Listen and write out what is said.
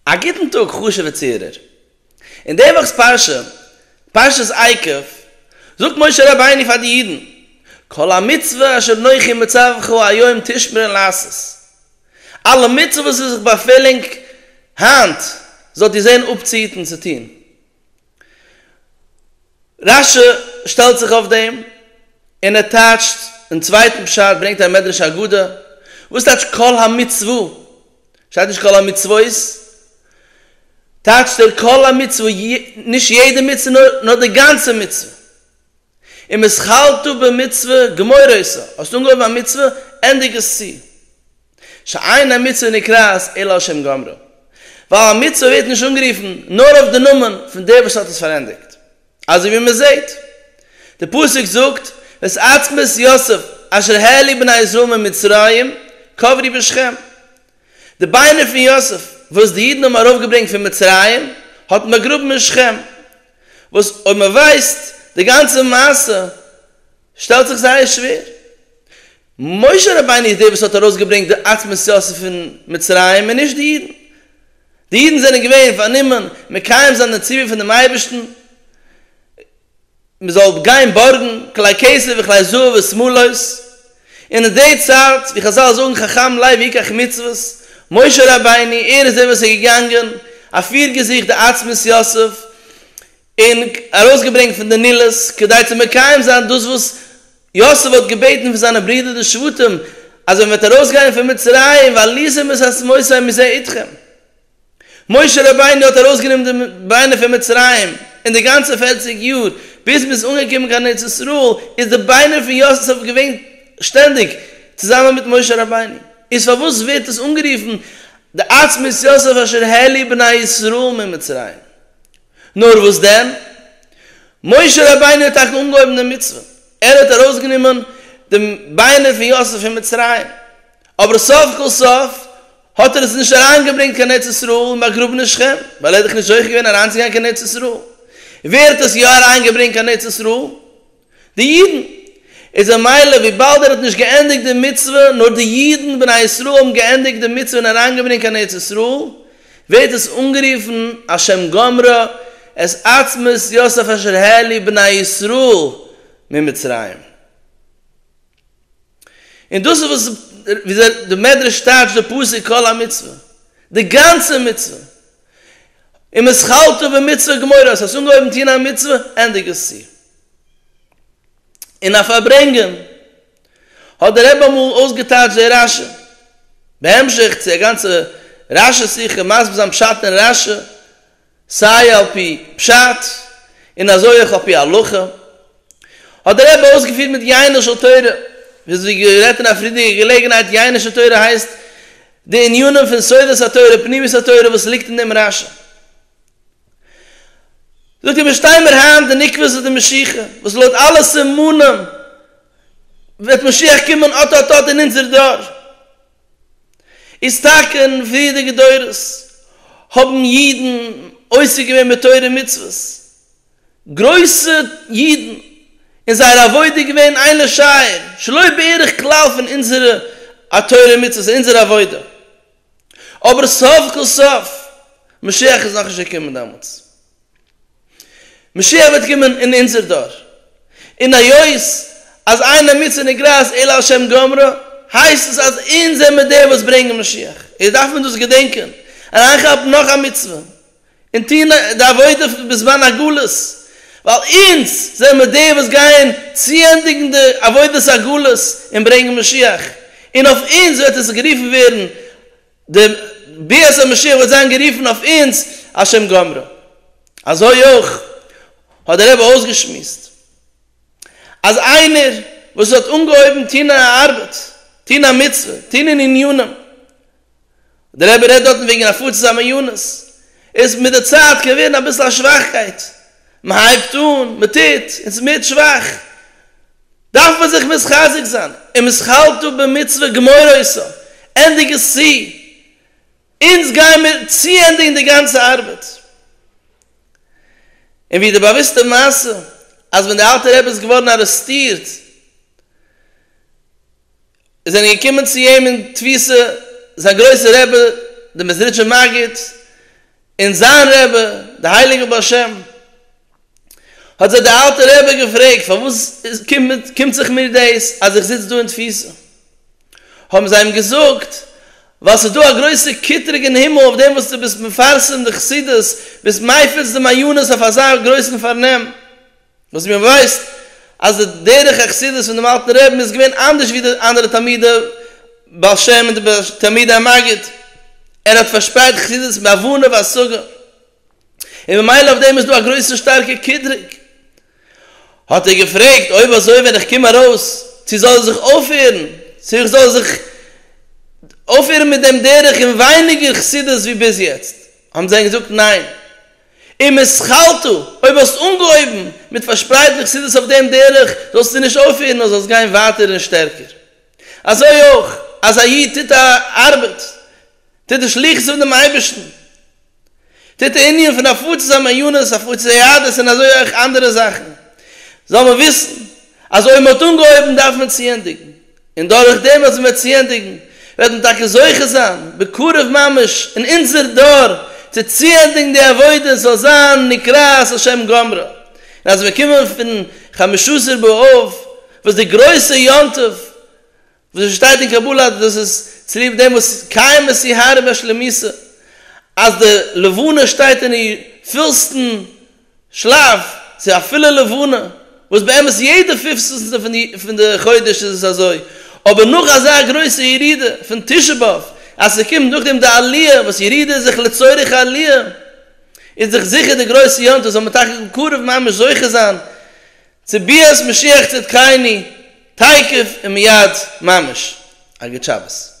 א גוטן טאג חשוב'ע צוהערער. אין די וואכ'ס פרשה, פרשת עקב, זאגט משה רבינו פאר די אידן, כל המצוה אשר נוחי מצווך היום תשמרון לעשות, אלע מצוות וואס איך באפעלנג היינט זאלט איר זען אפצוהיטן צו טון, רש י שטעלט זיך אויף דעם און ער טייטשט דעם צווייטן פשט, ברענגט א מדרש אגדה, וואס טייטשט כל המצוה? שטייט נישט כל המצוות? טייטשט ער כל המצוה, נישט יעדע מצוה נאר די גאנצע מצוה. און מסכלתא במצוה גמוראיסא, האסט אנגעהויבן א מצוה, ענדיג עס צו. שאין המצוה נקראת אלא על שם גומרה. ווייל א מצוה ווערט נישט אנגערופן נאר אויף די נאמען פון דער וואס האט עס פארענדיגט. אזוי ווי מען זעט, דער פסוק זאגט, ואת עצמות יוסף אשר העלה בני ישראל ממצרים קברי בשכם. די ביינער פון יוסף וואס די אידן האבן ארויפגעברענגט פון מצרים האט מען באגראבן אין שכם. וואס אויב מען ווייסט די גאנצע מעשה שטעלט זיך זייער שווער. משה רבינו איז דער וואס האט ארויסגעברענגט די עצמות יוסף פון מצרים און נישט די אידן. די אידן זענען געווען פארנומען מקיים זיין די ציווי פונעם אייבערשטן מען זאל גיין בארגן כלי כסף וכלי זהב ושמלות, און אין די צייט, ווי חזל זאגן חכם לב יקח מצוות, משה רבינו ער איז דער וואס איז געגאנגען, אפירגעזוכט די עצמות יוסף, און ארויסגעברענגט פון די נילוס, כדי צו מקיים זיין דאס וואס יוסף האט געבעטן פון זיינע ברידער די שבטים, אז ווען מ'וועט ארויסגיין פון מצרים, ועליתם את עצמותיי מזה איתכם. משה רבינו האט ארויסגענומען די ביינער פון מצרים, און די גאנצע פֿערציק יאר ביז מען איז אנגעקומען קיין ארץ ישראל, איז די ביינער פון יוסף געווען שטענדיג צוזאמען מיט משה רבינו, איז פארוואס ווערט עס אנגערופן די עצמות יוסף אשר העלו בני ישראל ממצרים? נאר וואס דען, משה רבינו האט טאקע אנגעהויבן די מצוה, ער האט ארויסגענומען די ביינער פון יוסף פון מצרים, אבער סוף כל סוף האט ער עס נישט אריינגעברענגט קיין ארץ ישראל און באגראבן אין שכם, ווייל ער איז דאך נישט זוכה געווען אריינצוגיין קיין ארץ ישראל. ווער האט עס יא אריינגעברענגט קיין ארץ ישראל? די אידן. איז א מילא וויבאלד ער האט נישט געענדיגט די מצוה, נאר די אידן בני ישראל האבן געענדיגט די מצוה און אריינגעברענגט קיין ארץ ישראל, ווערט עס אנגערופן על שם גמרה, את עצמות יוסף אשר העליא בני ישראל ממצרים. און דאס איז וואס ווי אזוי די מדרש טייטשט די פסוק כל המצוה, די גאנצע מצוה, און מסכלתא במצוה גמורה, האסט עס אנגעהויבן טון א מצוה, ענדיג עס צו. און אויף פארברענגען האט דער רבי אמאל אויסגעטייטשט דער רשי, בהמשך צו א גאנצע רשי שיחה מסביר זיין פשט אין רשי, סיי על פי פשט און אזוי אויך על פי הלכה, האט דער רבי אויסגעפירט מיט ייענוש של תורה, וויאזוי גערעדט אין א פריערדיגע געלעגנהייט, ייענוש של תורה הייסט די ענינים פון סודות התורה, פנימיות התורה וואס ליגט אין דעם רש י. זאגט ער מיר שטיי מיר היינט די נקבות און די משיחה, וואס לויט אלע סימנים וועט משיח קומען אט אט אט אין אונזער דור, איז טאקע אין פריערדיגע דורות האבן אידן עוסק געווען בתורה ומצוות, גרויסע אידן, און זייער עבודה איז געווען איין לשער שלא בערך כלל פון אונזערע א תורה ומצוות און אונזער עבודה, אבער סוף כל סוף משיח איז נאכנישט געקומען דעמאלטס. משיח וועט קומען אין אונזער דור, און היות אז איינער מוצא נגרעת אלא על שם גומרו, הייסט עס אז אונז זעמיר די וואס ברענגען משיח, איז דארף מען דאס געדענקען, אריינכאפן נאך א מצוה, און טון די עבודה בזמן הגלות, ווייל אונז זעמיר די וואס גייען צוענדיגן די עבודת הגלות און ברענגען משיח, און אויף אונז וועט עס גערופן ווערן די ביאת המשיח וועט זיין גערופן אויף אונז על שם גומרה. אזוי אויך האט דער רבי אויסגעשמועסט אז איינער וואס האט אנגעהויבן טון א ארבעט, טון א מצוה, טון אין עניינים, דער רבי רעדט דארטן וועגן הפצת המעיינות, איז מיט די צייט געווען אביסל א שוואכקייט, מען הייבט אן, מען טוט, און ס'מערט שוואך. דארף מען זיך מתחזק זיין און משכלתו במצוה גמור עושה, ענדיג עס צו, אונז גייען מיר צוענדיגן די גאנצע ארבעט. און ווי די באוויסטע מעשה אז ווען די אלטע רבי איז געווארן ארעסטירט, עס זענען געקומען צו אים אין תפיסה זיין גרויסער רבי דער מעזריטשער מגיד, און זיין רבי דער הייליגער בעל שם, האט זיי דער אלטער רבי געפרעגט פארוואס קומט זיך מיר דאס אז איך זיץ דא אין תפיסה, האבן זיי אים געזאגט ווייל ס'איז דא א גרויסע קטרוג אין הימל אויף דעם וואס דו ביסט מפרסם די חסידות, ביסט מפיץ די מעיינות אויף אזא גרויסן פארנעם. וואס מיר ווייסט אז די דרך החסידות פון דעם אלטן רעבין איז געווען אנדערש ווי די אנדערע תלמידי בעל שם און די תלמידי המגיד, ער האט פארשפרייט חסידות בהבנה והשגה, און ממילא אויף דעם איז דא א גרויסע שטארקע קטרוג, האט ער געפרעגט אויב אזוי ווען איך קום ארויס צו זאל איך זיך אויפהערן, צו איך זאל זיך אויפהערן מיט דעם דרך און ווייניגער חסידות ווי ביז יעצט, האבן זיי אים געזאגט ניין, ומסכלתא, אויב האסט אנגעהויבן מיט פארשפרייטן די חסידות אויף דעם דרך, זאלסטו נישט אויפהערן נאר זאלסט גיין ווייטער און שטערקער. אזוי אויך, אז א איד טוט א ארבעט, טוט די שליחות פון דעם אייבערשטן, טוט די ענין פון הפצת המעיינות, הפצת היהדות און אזוי אויך אנדערע זאכן, זאל מען וויסן אז אויב מען האט אנגעהויבן דארף מען צוענדיגן. און דורך דעם וואס מען וועט צו ענדיגן, וועט מען טאקע זוכה זיין בקרוב ממש אין אונזער דור צו צוענדיגן די עבודה, עס זאל זיין נקראת על שם גומרה, און אז מיר קומען פון חמשה עשר באב וואס די גרויסע יום טוב וואס עס שטייט אין קבלה אז דאס איז צוליב דעם וואס קיימת אי הארה בשלמותה אז די לבנה שטייט אין איר פולסטן שלאף, צו אפילו לבנה, וואס באמת יעדע פופצנסטע פון די חודש איז עס אזוי, אבער נאך אזא גרויסע ירידה פון תשעה באב, אז ס'קומט נאכדעם די עליה, וואס ירידה איז זיך לצורך עליה, איז דאך זיכער די גרויסע יום טוב זאל מען טאקע בקרוב ממש זוכה זיין צו ביאת משיח צדקיינו תיכף ומיד ממש. א גוט שבת.